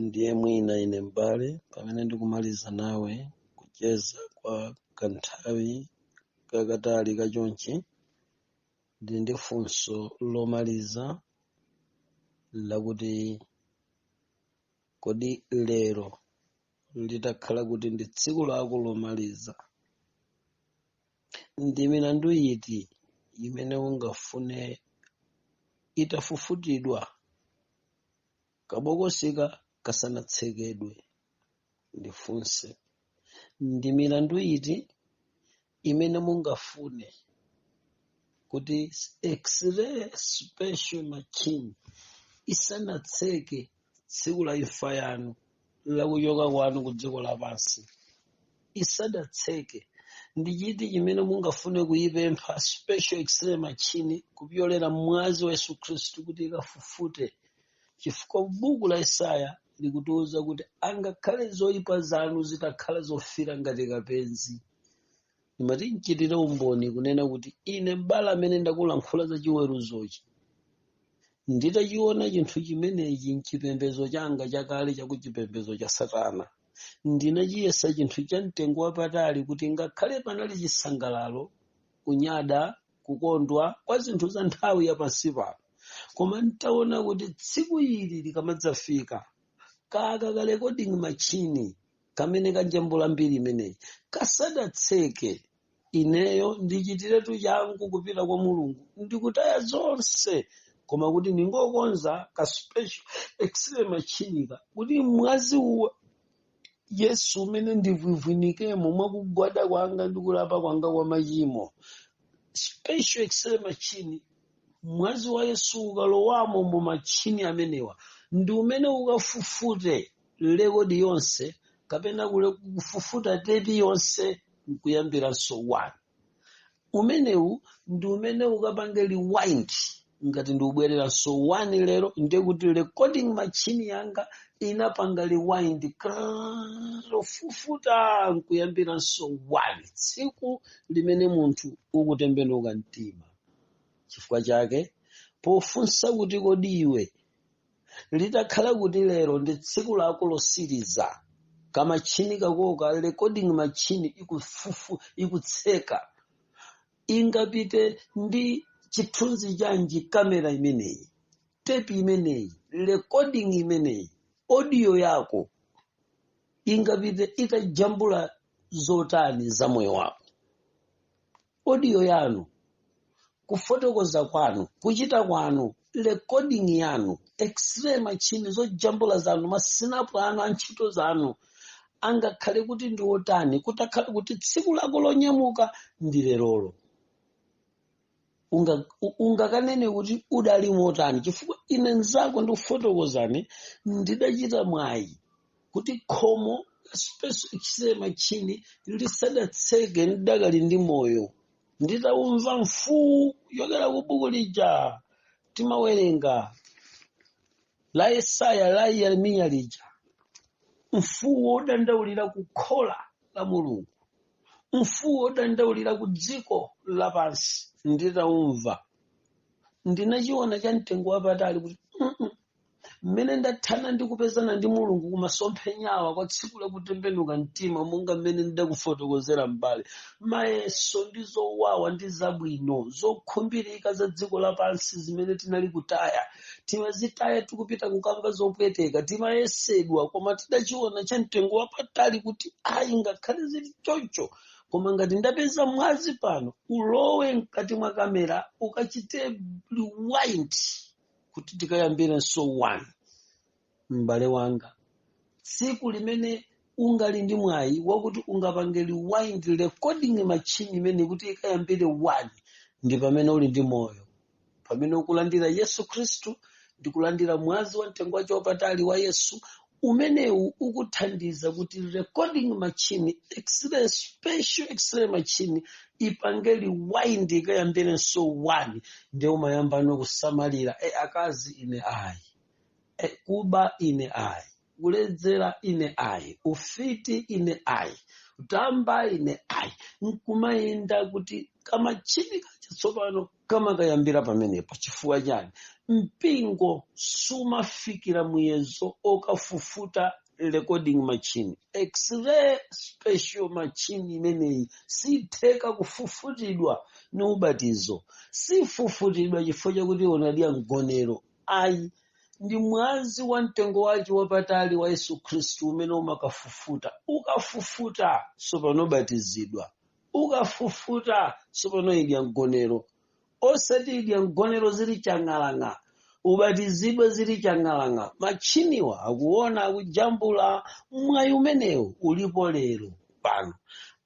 ndiye mwina ine m'bale pamene ndikumaliza nawe kucheza kwa kanthawi kakatali kachonchi ndili ndi funso lomaliza lakuti kodi lero litakhala kuti ndi tsiku lako lomaliza Ndi milandu iti imene ungafune itafufutidwa kabokosika kasanatsekedwe? Ndifunse, ndi milandu iti imene mungafune kuti x-ray special machine isanatseke tsiku la imfa yanu lakuchoka kwanu ku dziko lapansi isadatseke ndi chiti chimene mungafune kuyipempha special x-ray machine kupyolera mwazi wa yesu khristu kuti ikafufute chifukwa buku la isaya likutiuza kuti angakhale zoyipa zanu zitakhala zofira ngati kapenzi ndimati nchitire umboni kunena kuti ine m'bale amene ndakulankhula za chiweruzochi nditachiona chinthu chimenechi mchipembezo changa chakale chakuchipembezo cha satana ndinachiyesa chinthu cha mtengo wapatali kuti ngakhale panali chisangalalo kunyada kukondwa kwa zinthu za nthawi ya pansi pano koma ntaona kuti tsiku ili likamadzafika kaka ka recording machine kamene kanjambula mbiri imeneyi kasadatseke ineyo ndichitiretu changu kupita kwa mulungu ndikutaya zonse koma kuti ndingokonza ka special x-ray machinika kuti mwazi wa yesu umene ndivwivwinikemo mwakugwada kwanga ndi kulapa kwanga kwa machimo special x-ray machine mwazi wa yesu ukalowamo mu machini amenewa ndi umene ukafufute lekodi yonse kapena kule- kufufuta tepi yonse nkuyambiranso 1 umenewu ndi umene ukapange rewind ngati ndiubwereranso 1 lero ndiye kuti recording machine yanga inapanga rewind krrrr, kufufuta nkuyambiranso 1 tsiku limene munthu ukutembenuka mtima chifukwa chake pofunsa kuti kodi iwe litakhala kuti lero ndi tsiku lako losiriza kamachini kako ka recording machine ikutseka ingapite ndi chithunzi chanji kamera imeneyi tepi imeneyi recording imeneyi audio yako ingapite itajambula zotani za moyo wako audio yanu kufotokoza kwanu kuchita kwanu recording yanu x-ray machine zojambula zanu masinapu anu a ntchito zanu angakhale kuti ndi otani kutakhala kuti tsiku lako lonyamuka ndi lerolo ungakanene kuti udali motani chifukwa ine nzako ndikufotokozani ndidachita mwayi kuti khomo la special x-ray machine lisadatseke ndidakali ndi moyo nditaumva mfuu yokera ku buku lija timawerenga la yesaya la yeremiya lija mfuu wodandaulira ku khola la mulungu mfuu wodandaulira ku dziko lapansi nditaumva ndinachiona cha mtengo wapatali kuti mmene ndathana ndi kupezana ndi mulungu kumasomphenyawa kwa tsiku la kutembenuka mtima monga mmene ndidakufotokozera m'bale mayeso ndi zowawa ndi zabwino zokhumbirika za dziko lapansi zimene tinali kutaya timazitaya tikupita kukamba zopweteka timayesedwa koma tidachiona cha mtengo wapatali kuti ayi ngakhale zili choncho koma ngati ndapeza mwazi pano ulowe mkati mwa kamera ukachite rewind kuti tikayambirenso 1 m'bale wanga tsiku limene ungali ndi mwayi wakuti ungapange rewind recording machine imeneyi kuti ikayambire 1 ndi pamene uli ndi moyo pamene ukulandira yesu khristu ndi kulandira mwazi wa mtengo wace wapatali wa yesu umenewu ukuthandiza kuti recording machine x-ray special x-ray machine ipange rewind ikayambirenso one nde umayambano kusamalira e akazi ine ayi e kuba ine ayi kuledzera ine ayi ufiti ine ayi utamba ine ayi nkumayenda kuti kamachini kachatsopano kamakayambira pamenepo chifukwa chani mpingo sumafikira muyezo okafufuta recording machine x-ray special machine imeneyi sitheka kufufutidwa ni ubatizo sifufutidwa chifukwa chakuti unadya mgonero ayi ndi mwazi wa mtengo wace wapatali wa yesu khristu umene umakafufuta ukafufuta sopano ubatizidwa ukafufuta tsopano idya mgonero osati idya mgonero zili chang'alang'a ubatizidwe zili chang'alang'a matchiniwa akuona akujambula mwayi umenewu ulipo lero pano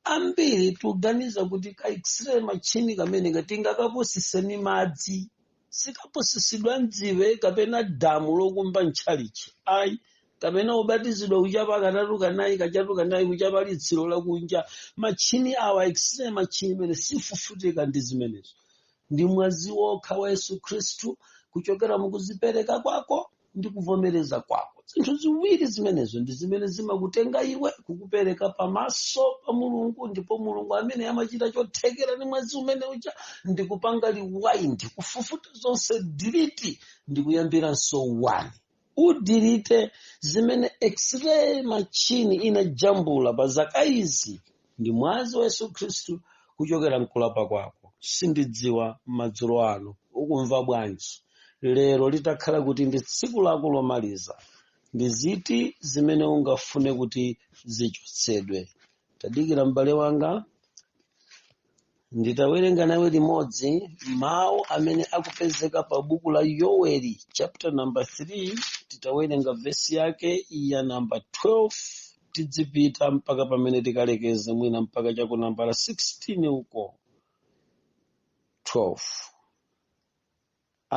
ambiri tuganiza kuti ka x-ray matchini kameneka tingakapusise ni madzi sikapusisidwa mdziwe kapena damu lokumba mtchalichi ayi kapena ubatizidwa kuchapa katatu kanayi kachatu kanayi kuchapa litsiro lakunja matchini awa x-ray matchini imene sifufutika ndi zimenezo ndi mwazi wokha wa yesu khristu kuchokera mukuzipereka kwako ndi kuvomereza kwako zinthu ziwiri zimenezo ndi zimene zimakutenga iwe kukupereka pamaso pa mulungu ndipo mulungu amene amachita chothekera ndi mwazi umene uja ndi kupanga rewind kufufuta zonse delete ndi kuyambiranso wani udilite zimene x-ray machine inajambula pa zaka izi ndi mwazi wa yesu khristu kuchokera mkulapa kwako sindidziwa madzulo ano ukumva bwanji lero litakhala kuti ndi tsiku lako lomaliza ndi ziti zimene ungafune kuti zichotsedwe tadikira m'bale wanga nditawerenga nawe limodzi mawu amene akupezeka pa buku la yoweli chapter number 3 titawerenga vesi yake ya namba 12 tidzipita mpaka pamene tikalekeze mwina mpaka cha ku nambala 16 uko 12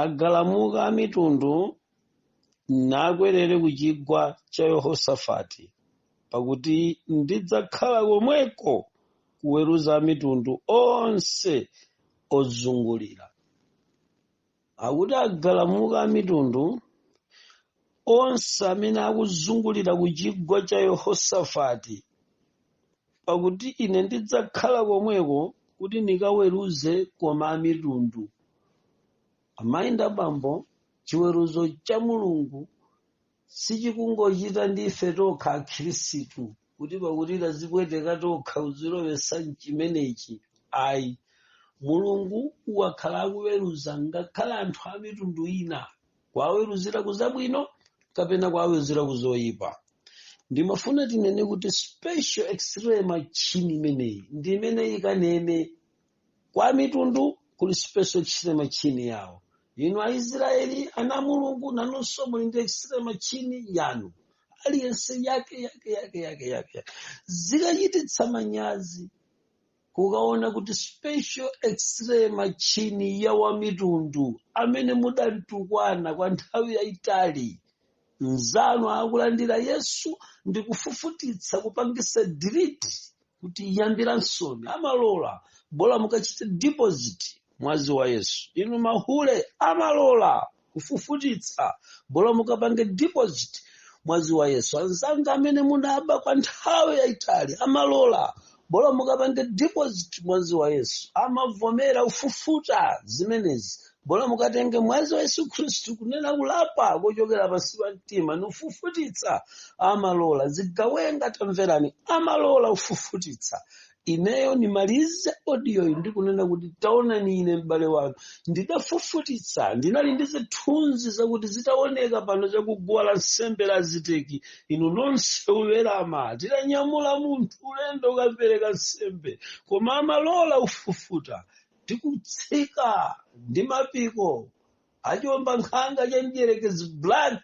Agalamuka amitundu nakwerere kuchigwa cha Yehosafati, pakuti ndidzakhala komweko kuweruza amitundu onse ozungulira. Akuti agalamuka amitundu onse amene akuzungulira kuchigwa cha Yehosafati pakuti ine ndidzakhala komweko kuti ndikaweruze koma amitundu amayi ndi abambo chiweruzo cha mulungu sichikungochita ndi ife tokha akhristu kuti pakuti tazipweteka tokha kuzilowesa mchimenechi ayi mulungu wakhala akuweruza ngakhale anthu amitundu ina kuwaweruzira ku zabwino kapena kuwaweruzira ku zoyipa ndimafuna tinene kuti special x-ray machine imeneyi ndi imene ikanene kwa mitundu kuli special x-ray machine yawo inu aisraeli ana a mulungu nanunso muli ndi x-ray machine yanu aliyense yake yake yake yake yake zikachititsa manyazi kukaona kuti special x-ray machini ya wamitundu amene mudamtukwana kwa nthawi yayitali mzanu akulandira yesu ndi kufufutitsa kupangisa delete kuti iyambiransoni amalola bola mukachite deposit mwazi wa yesu inu mahule amalola kufufutitsa bola mukapange deposit mwazi wa yesu anzanga amene munaba kwa nthawi yayitali amalola bola mukapange deposit mwazi wa yesu amavomera ufufuta zimenezi bola mukatenge mwazi wa yesu khristu kunena kulapa kochokera pansi pa mtima ni ufufutitsa amalola zigawenga tamverani amalola ufufutitsa ineyo nimalize audioyi ndikunena kuti taonani ine m'bale wanu ndidafufutitsa ndinali ndi zithunzi zakuti zitaoneka pano chakuguwa la nsembe la ziteki inu nonse uwerama tidanyamula munthu ulendo ukapereka nsembe koma amalola ufufuta tikutsika ndi mapiko achomba nkhanga cha mdyerekezi black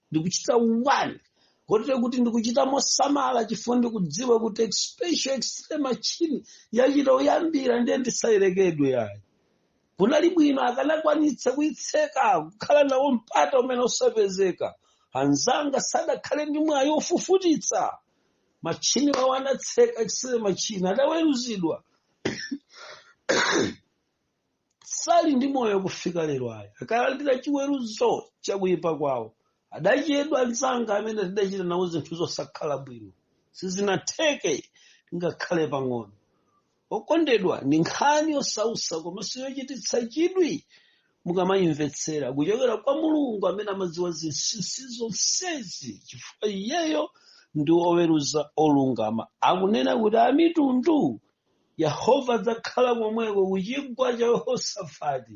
ndikuchita one kotero kuti ndikuchita mosamala chifukwa ndikudziwa kuti special x-ray machine yachita uyambira ndiye ndisayerekedwe yayi kunali bwino akanakwanitsa kuitseka kukhala nawo mpata umene usapezeka anzanga sadakhale ndi mwayi ofufutitsa machini wawo anatseka x-ray machine adaweruzidwa sali ndi moyo kufika lero ayi akalandira chiweruzo chakuyipa kwawo adachedwa anzanga amene tidachita nawo zinthu zosakhala bwino sizinatheke ngakhale pang'ono okondedwa ndi nkhani yosausa komanso yochititsa chidwi mukamayimvetsera kuchokera kwa mulungu amene amadziwa zinsinsi zonsezi chifukwa iyeyo ndi oweruza olungama akunena kuti amitundu yehova adzakhala komweko ku chigwa cha yehosafati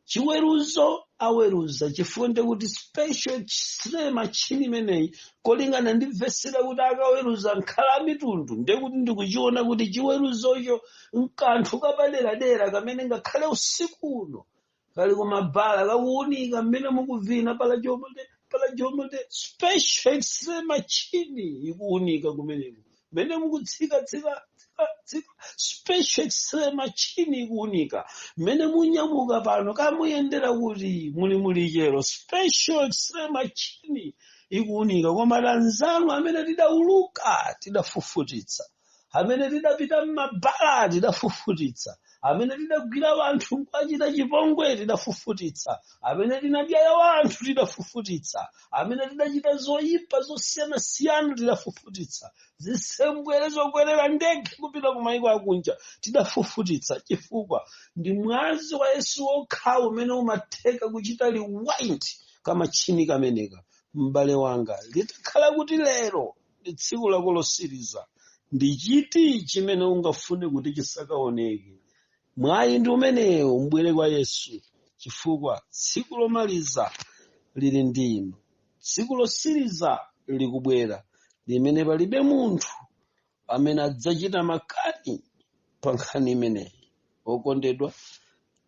chiweruzo aweruza chifukwa ndekuti special x-ray machine imeneyi kolingana ndi vesi ya kuti akaweruza nkhala amitundu ndekuti ndikuchiona kuti chiweruzocho nkanthu kapaderadera kamene ngakhale usiku uno kali kumabala kakuunika mmene mukuvina pala jomote pala jomote special x-ray machine ikuunika kumeneko mmene mukutsika tsika tsika tsika special x-ray machine ikuunika mmene munyamuka pano kamuyendera kuti muli muli chero special x-ray machine ikuunika koma anzanu amene tidauluka tidafufutitsa amene tidapita m'mabala tidafufutitsa amene tidagwira wanthu nkwachita chipongwe tidafufutitsa amene tinadyaya wanthu tidafufutitsa amene tidachita zoyipa zosiyanasiyana tidafufutitsa zisembwere zokwerera ndege kupita ku mayiko akunja tidafufutitsa chifukwa ndi mwazi wa yesu wokhawo umene umatheka kuchita rewind kamachini kameneka m'bale wanga litakhala kuti lero ndi tsiku lako losiriza ndi chiti chimene ungafune kuti chisakaoneke mwayi ndi umenewo mbwere kwa yesu chifukwa tsiku lomaliza lili ndimo tsiku losiriza likubwera limene palibe munthu amene adzachita makani pa nkhani imeneyi okondedwa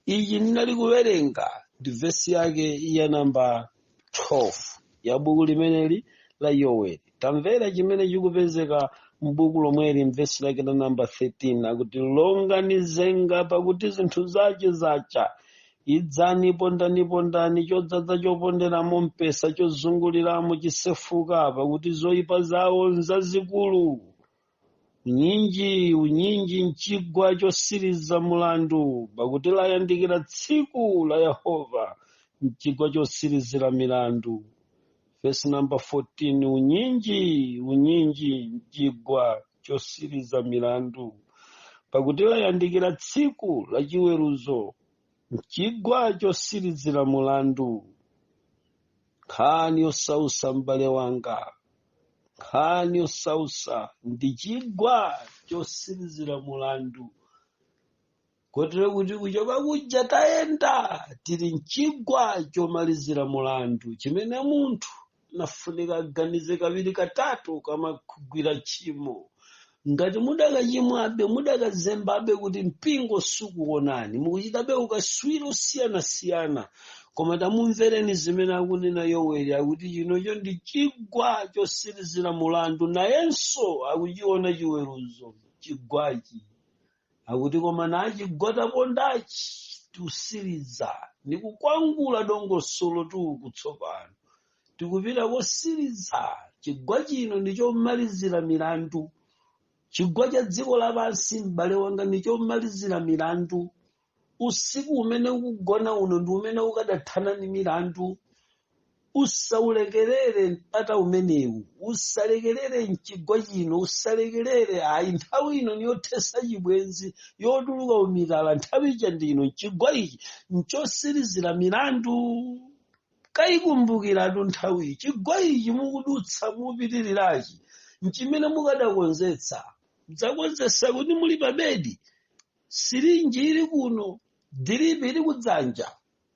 ichi ndinali kuwerenga ndi vesi yake ya namba 12 ya buku limeneli la yoweli tamverani chimene chikupezeka m'buku lomweli mvesi lake la namba 13 akuti longani zenga pakuti zinthu zace zacha idzani pondani pondani chadzadza choponderamo mpesa chosungiramo chisefuka pakuti zoyipa zawo nzazikulu unyinji unyinji mchigwa chosiriza mulandu pakuti layandikira tsiku la yehova mchigwa chosirizira milandu vesi namba 14 unyinji unyinji mchigwa chosiriza milandu pakuti layandikira tsiku la chiweruzo mchigwa chosirizira mulandu nkhani yosausa m'bale wanga nkhani yosausa ndi chigwa chosirizira mulandu kotero kuti kuchoka kuja tayenda tili mchigwa chomalizira mulandu chimene munthu nafunika aganize kawiri katatu akamakagwira tchimo ngati mudakachimwabe mudakazembabe kuti mpingo sukuonani mukuchitabe ukatswiri wosiyanasiyana koma tamumvereni zimene akunena yoweli akuti chinocho ndi chigwa chosirizira mulandu nayenso akuchiona chiweruzo chigwachi akuti koma nachi chigwa tapondachi tikusiriza ndikukwangula dongosolotu kutsopano tikupita kosiriza chigwa chino ndi chomalizira milandu chigwa cha dziko lapansi m'bale wanga ndi chomalizira milandu usiku umene ukugona uno ndi umene ukadathana ndi milandu usaulekerere mpata umenewu usalekerere mchigwa chino usalekerere ayi nthawi ino niyothesa chibwenzi yotuluka umitala nthawi yake ndi ino chigwa ichi nchosirizira milandu Mukaikumbukiratu nthawiyi, chigwa ichi mukudutsa mupitirirachi nchimene mukadakonzetsa. Mudzakonzetsa kuti muli pabedi, sirinji iri kuno, diripi iri kudzanja.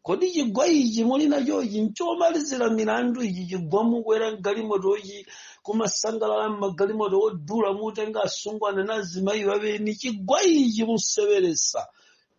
Kodi chigwa ichi muli nachochi nchomalizira milandu? Ichi chigwa mukwera m'galimotochi, kumasangalala m'magalimoto odula, mutenga asungwana nazimayi abeni, chigwa ichi mukuseweretsa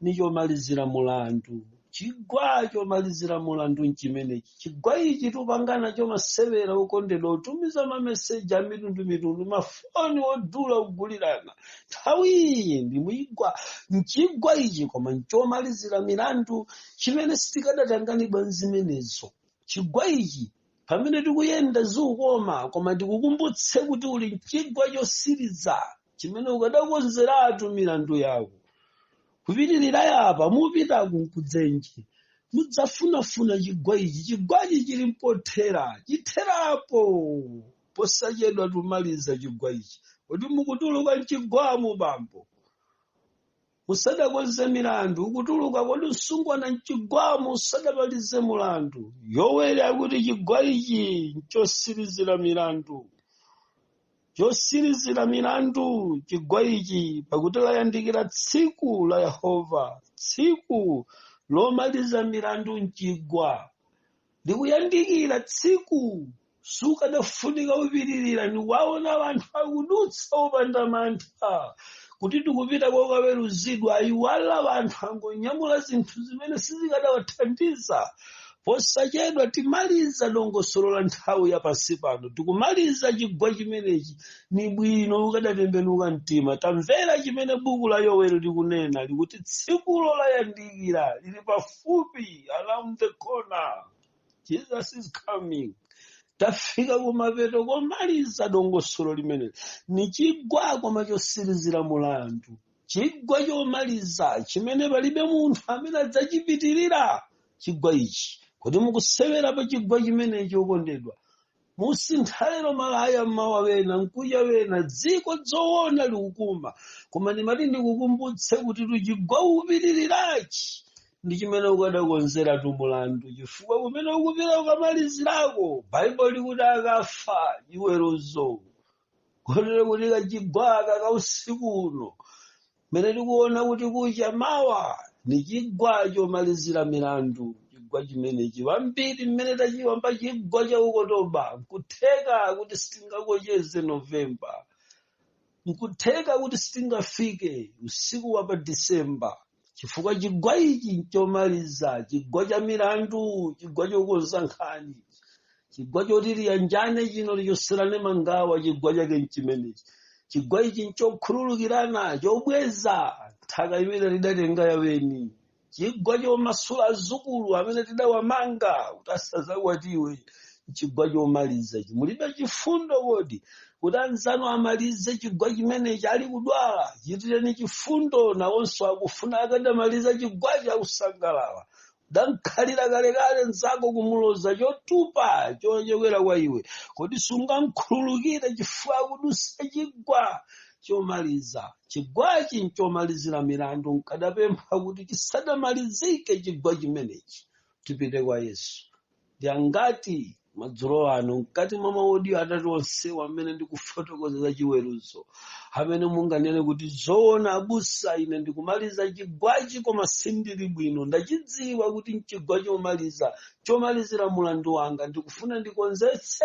ni chomalizira mulandu chigwa chomalizira mulandu nchimenechi chigwa ichi tupangana chomasewera okondedwa otumiza mameseji a mitundu mitundu mafoni odula kugulirana nthawi iyi ndi muchigwa nchigwa ichi koma nchomalizira milandu chimene sitikadatanganidwa nzimenezo chigwa ichi pamene tikuyenda zikukoma koma tikukumbutse kuti uli mchigwa chosiriza chimene ukadakonzeratu milandu yako kupitirira yapa mupitaku nkudzenje mudzafunafuna chigwa ichi chigwa ichi chili mpothera chitherapo posachedwa tumaliza chigwa ichi kodi mukutuluka mchigwamu bambo usadakonze milandu ukutuluka kodi msungwana mchigwamo usadamalize mulandu yoweli akuti chigwa ichi nchosirizira milandu chosirizira milandu chigwa ichi pakuti layandikira tsiku la yehova tsiku lomaliza milandu mchigwa likuyandikira tsiku sukadafunika upitirira niwaona anthu akudutsa opanda mantha kuti tikupita kokaweruzidwa ayiwala anthu angonyamula zinthu zimene sizikadawathandiza posachedwa timaliza dongosolo la nthawi ya pansi pano tikumaliza chigwa chimenechi ni bwino ukadatembenuka mtima tamvera chimene buku la yoweli likunena likuti tsikulo layandikira lili pafupi pafupi around the corner jesus is coming tafika kumapeto komaliza dongosolo limeneli ni chigwa koma chosirizira mulandu chigwa chomaliza chimene palibe munthu amene adzachipitirira chigwa ichi kodi mukusewera pa chigwa chimenechi okondedwa musintha lero malaya mmawa wena mkuja wena dziko zoona likukoma koma ndimati ndikukumbutse kutitu chigwa upitirirachi ndi chimene ukadakonzeratu mulandu chifukwa kumene ukupita ukamalizirako baibulo likuti akafa chiweruzo kotero kuti kachigwaka ka usiku uno mmene tikuona kuti kucha mawa ni chigwa chomalizira milandu chigwa chimenechi wambiri mmene tachiyamba chigwa cha okotoba nkutheka kuti sitingakocheze novemba nkutheka kuti sitingafike usiku wa pa disemba chifukwa chigwa ichi nchomaliza chigwa cha milandu chigwa chokonza nkhani chigwa choti tiyanjane chino tichotserane mangawa chigwa chake nchimenechi chigwa ichi nchokhululukirana chobweza nthaka imene tidatenga yaweni chigwa chomasula azukulu amene tidawamanga kuti asazakwatiwe chigwa chomaliza ichi mulibe chifundo kodi kuti anzanu amalize chigwa chimenechi ali kudwala chitireni chifundo nawonso akufuna akadamaliza chigwachi akusangalala udankhalira kalekale nzako kumuloza chotupa chochokera kwa iwe kodi sungamkhululukire chifukwa akudutsa chigwa chomaliza chigwachi nchomalizira milandu nkadapempha kuti chisadamalizike chigwa chimenechi tipite kwa yesu ndi angati madzulo ano mkati mwa maodiyo atatu onsewa amene ndikufotokoza za chiweruzo amene munganene kuti zoona abusa ine ndikumaliza chigwachi koma sindili bwino ndachidziwa kuti nchigwa chomaliza chomalizira mulandu wanga ndikufuna ndikonzetse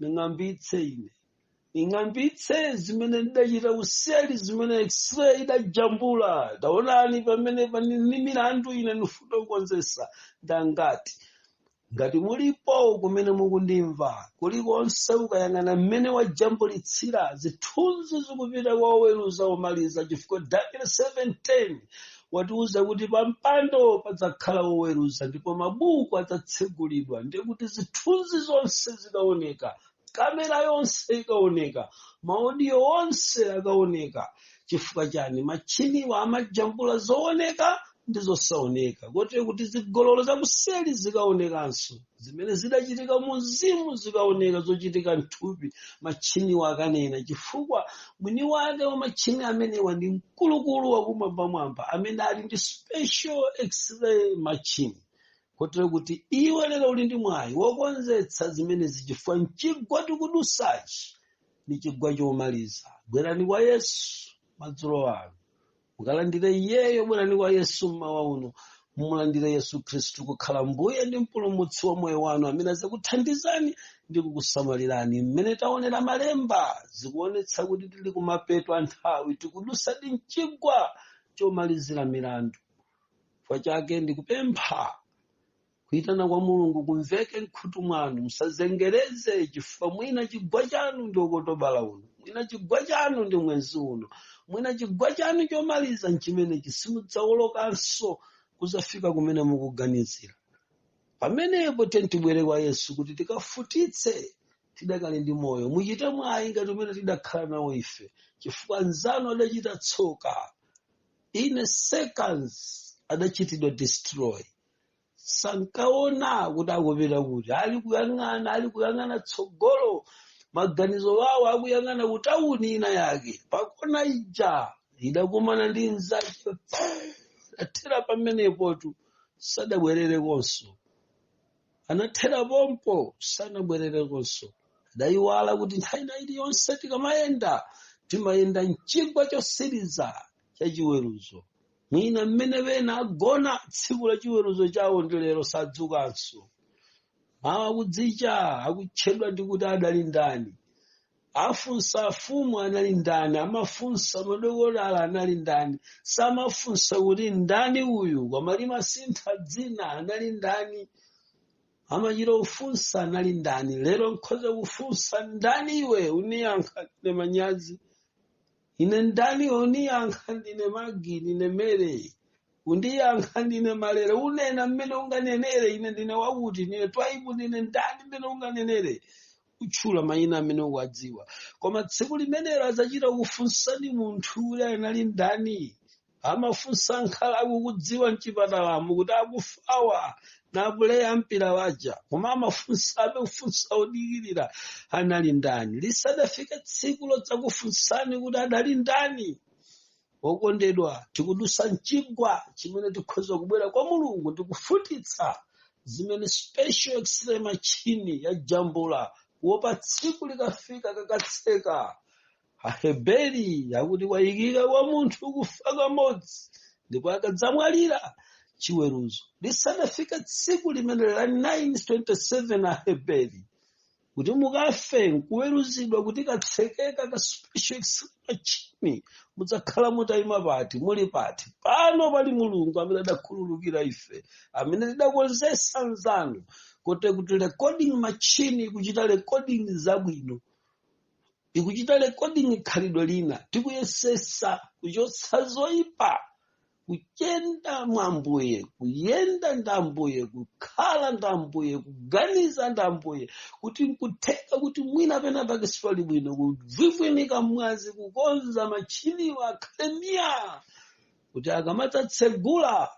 ning'ambitse ine ning'ambitse zimene ndidachita kuseli zimene x-ray idajambula taonani pamene pani ni milandu ine ndifuna kukonzetsa ndangati ngati mulipo kumene mukundimva kulikonse ukayang'ana mmene wajambulitsira zithunzi zikupita kwa oweruza omaliza chifukwa daniel 710 watiuza kuti pa mpando padzakhala woweruza ndipo mabuku adzatsegulidwa ndiye kuti zithunzi zonse zikaoneka kamera yonse ikaoneka maodiyo onse akaoneka chifukwa chani machiniwa amajambula zooneka ndi zosaoneka kotero kuti zigololo zakuseli zikaonekanso zimene zidachitika mu mzimu zikaoneka zochitika mthupi machiniwa akanena chifukwa mwini wake wa machini amenewa ndi mkulukulu wakumwambamwamba amene ali ndi special x-ray machine kotero kuti iwe lero uli ndi mwayi wokonzetsa zimenezi chifukwa mchigwa tikudutsachi ni chigwa chomaliza bwerani kwa yesu madzulo ano mumulandire iyeyo bwerani kwa yesu mmawa uno mumulandire yesu khristu kukhala mbuye ndi mpulumutsi wa moyo wanu amene azakuthandizani ndi kukusamalirani mmene taonera malemba zikuonetsa kuti tili kumapeto a nthawi tikudutsadi mchigwa chomalizira milandu chifukwa chake ndikupempha kuitana kwa mulungu kumveke mkhutu mwanu musazengereze chifukwa mwina chigwa chanu ndi okotobala uno mwina chigwa chanu ndi mwezi uno mwina chigwa chanu chomaliza nchimenechi simudzaolokanso kuzafika kumene mukuganizira pamenepo tiyeni tibwere kwa yesu kuti tikafutitse tidakali ndi moyo muchite mwayi ngati umene tidakhala nawo ife chifukwa anzanu adachita tsoka in seconds adachitidwa destroy sankaona kuti akupita kuti ali kuyang'ana ali kuyang'ana tsogolo maganizo wawo akuyang'ana kutawuni ina yake pakona ija idakumana ndi mzake athera pamenepotu sadabwererekonso anathera pompo sanabwererekonso adayiwala kuti nthawi ina iliyonse tikamayenda timayenda mchigwa chosiriza cha chiweruzo mwina mmene ena agona tsiku la chiweruzo chawo ndi lero sadzukanso mawa kudzicha akutchedwa ndi kuti adali ndani afunsa afumu anali ndani amafunsa madokotala anali ndani samafunsa kuti ndani uyu koma limasintha dzina anali ndani amachita kufunsa anali ndani lero nkhoza kufunsa ndani iwe uniyankha ndine manyazi ine ndani iwe uniyankha ndine magi ndine mere undiyankha ndine malere unena mmene unganenere ine ndine wakuti ndine twaibu ndine ndani mmene unganenere utchula mayina amene ukuwadziwa koma tsiku limenelo adzachita kufunsani munthu uyu anali ndani amafunsa nkhala akukudziwa mchipatalamo kuti akufawa ndi apuleya mpira waja koma amafunsabe kufunsa odikirira anali ndani lisadafike tsiku lodzakufunsani kuti adali ndani okondedwa tikudusa mchigwa chimene tikhoza kubwera kwa mulungu ndikufufutitsa zimene special x-ray machine yajambula kuopa tsiku likafika kakatseka aheberi akuti kwayikika kwa munthu kufa kamodzi ndipo akadzamwalira chiweruzo lisadafike tsiku limene la 927 aheberi kuti mukafe nkuweruzidwa kuti katsekeka ka special x-ray machine mudzakhala mutayima pati muli pati pano pali mulungu amene adakhululukira ife amene tidakonzesa anzanu kote kuti recording machine ikuchita recording zabwino ikuchita recording khalidwe lina tikuyesesa kuchotsa zoipa kuchenda mwa mbuye kuyenda nda mbuye kukhala nda mbuye kuganiza nda mbuye kuti nkutheka kuti mwina pena pake sipali bwino kuviika mu mwazi kukonza machiniwa a kamera kuti akamadzatsegula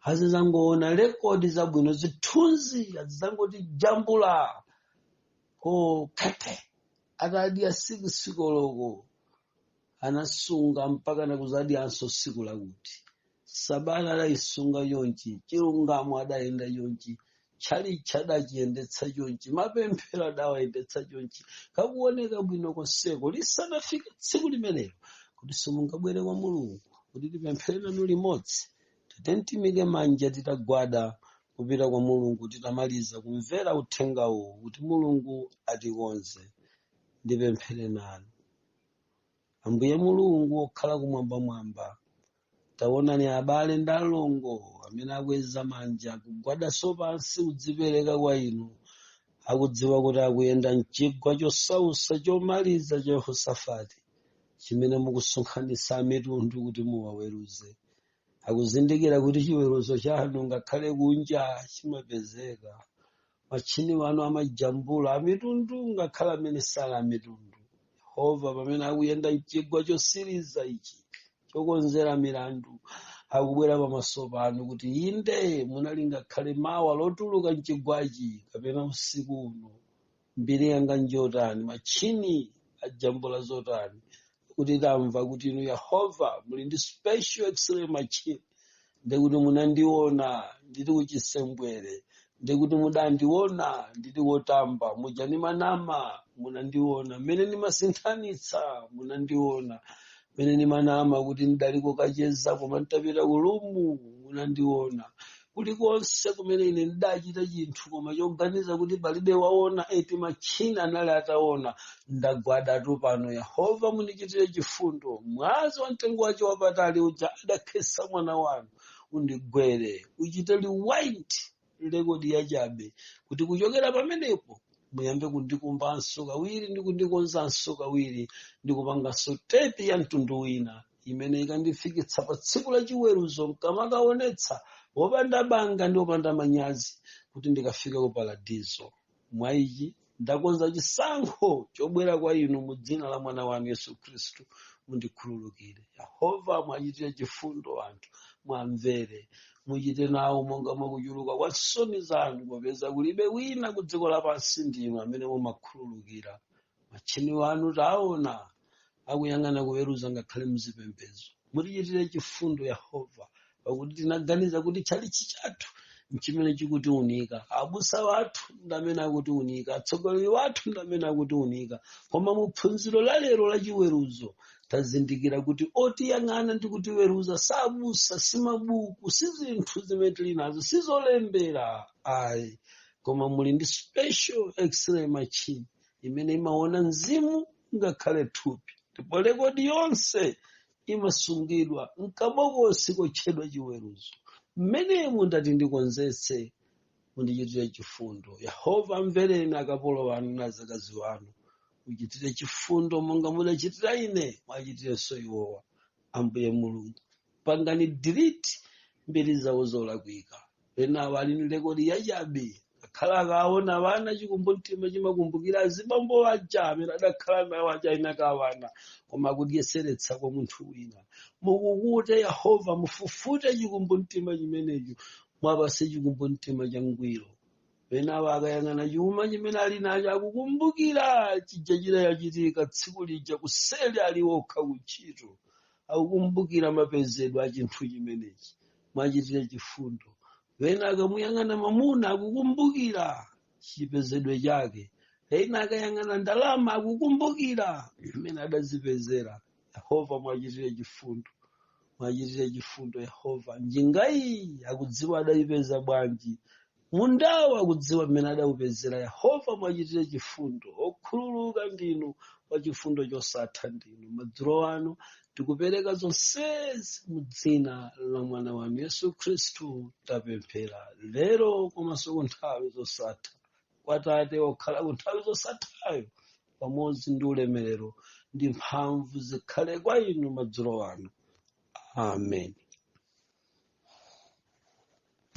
azizangoona rekodi zabwino zithunzi azizangoti jambula ko kete atadya siku sikoloko anasunga mpaka nakuzadyanso siku lakuti sabata adayisunga chonchi chilungamo adayenda chonchi tchalitchi adachiyendetsa chonchi mapemphero adawayendetsa chonchi kakuoneka bwino konseko lisadafike tsiku limenelo kuti simungabwere kwa mulungu kuti tipemphere nanu limodzi Tatiyeni timike manja titagwada kupita kwa Mulungu titamaliza kumvera uthenga uwu kuti Mulungu atikonze. Ndipemphere nanu. Ambuye Mulungu wokhala kumwambamwamba, taonani abale ndi alongo amene akweza manja kugwadanso pansi kudzipereka kwa inu akudziwa kuti akuyenda mchigwa chosausa chomaliza cha Yehosafati chimene mukusonkhanitsa amitundu kuti muwaweruze. akuzindikira kuti chiweruzo chanu ngakhale kunja chimapezeka matchini wanu amajambula amitundu ngakhale amene sali amitundu yehova pamene akuyenda mchigwa chosiriza ichi chokonzera milandu akubwera pamaso panu kuti inde munali ngakhale mawa lotuluka mchigwachi kapena usiku uno mbiri yanga njotani matchini ajambula zotani kuti tamva kuti inu yehova muli ndi special x-ray machine ndekuti munandiona ndili kuchisembwere ndekuti mudandiona ndili kotamba muja ndimanama munandiona mmene ndimasinthanitsa munandiona mmene ndimanama kuti ndidali kokacheza koma nditapita kulumu munandiona kulikonse kumene ine ndidachita chinthu koma choganiza kuti palibe waona eti matchina anali ataona ndagwadatu pano yehova mundichitire chifundo mwazi wa mtengo wace wapatali uja adakhesa mwana wanu undigwere uchite rewind rekodi yachabe kuti kuchokera pamenepo muyambe kundikumbanso kawiri ndi kundikonzanso kawiri ndikupanganso tepi ya mtundu wina imene ikandifikitsa pa tsiku la chiweruzo mkamakaonetsa wopanda banga ndi wopanda manyazi kuti ndikafika ku paradizo mwa ichi ndakonza chisankho chobwera kwa inu mu dzina la mwana wanu yesu khristu mundikhululukire yehova mwachitire chifundo anthu mwamvere muchite nawo monga mwakuchuluka kwa nsoni zanu popeza kulibe wina ku dziko lapansi ndinu amene mumakhululukira matchini wanu taona akuyang'ana kuweruza ngakhale muzipembedzo mutichitire chifundo yehova pakuti tinaganiza kuti tchalichi chathu nchimene chikutiunika abusa wathu ndamene akutiunika atsogoleri wathu ndamene akutiunika koma mu phunziro la lero la chiweruzo tazindikira kuti otiyang'ana ndi kutiweruza sabusa si mabuku si zinthu zimene tili nazo si zolembera ayi koma muli ndi special x-ray machine imene imaona mzimu ngakhale thupi ndipo rekodi yonse imasungidwa mkabokosi kotchedwa chiweruzo mmenemo ndati ndikonzetse mundichitire chifundo yehova amvereni akapolo anu na zakazi wanu muchitire chifundo monga mudachitira ine mwachitirenso iwowa ambuye mulungu pangani delete mbiri zawo zolakwika ena wali ni rekodi yachabe akhala akaona wana chikumbumtima chimakumbukira azibambo aja amene adakhala nawo aja ali na wana koma akudyeseretsa kwa munthu wina mukukute yehova mufufute chikumbumtima chimenecho mwapatse chikumbumtima changwiro ena akayang'ana chuma chimene ali nacho akukumbukira chija chidachitika tsiku lija kuseri ali okha kuntchito akukumbukira mapezedwe a chinthu chimenechi mwachitire chifundo ena akamuyang'ana mamuna akukumbukira chipezedwe chake ena akayang'ana ndalama akukumbukira mmene adazipezera yehova mwachitire chifundo mwachitire chifundo yehova njingayi akudziwa adayipeza bwanji Mundawo akudziwa mmene adaupezera. Yehova, muwachitire chifundo. Okhululuka ndinu, wachifundo chosatha ndinu. Madzulo ano tikupereka zonsezi mu dzina la mwana wanu Yesu Khristu tapemphera lero komanso ku nthawi zosatha kwa Tate wokhala ku nthawi zosathayo pamodzi ndi ulemerero ndi mphamvu zikhale kwa inu madzulo ano. Amen.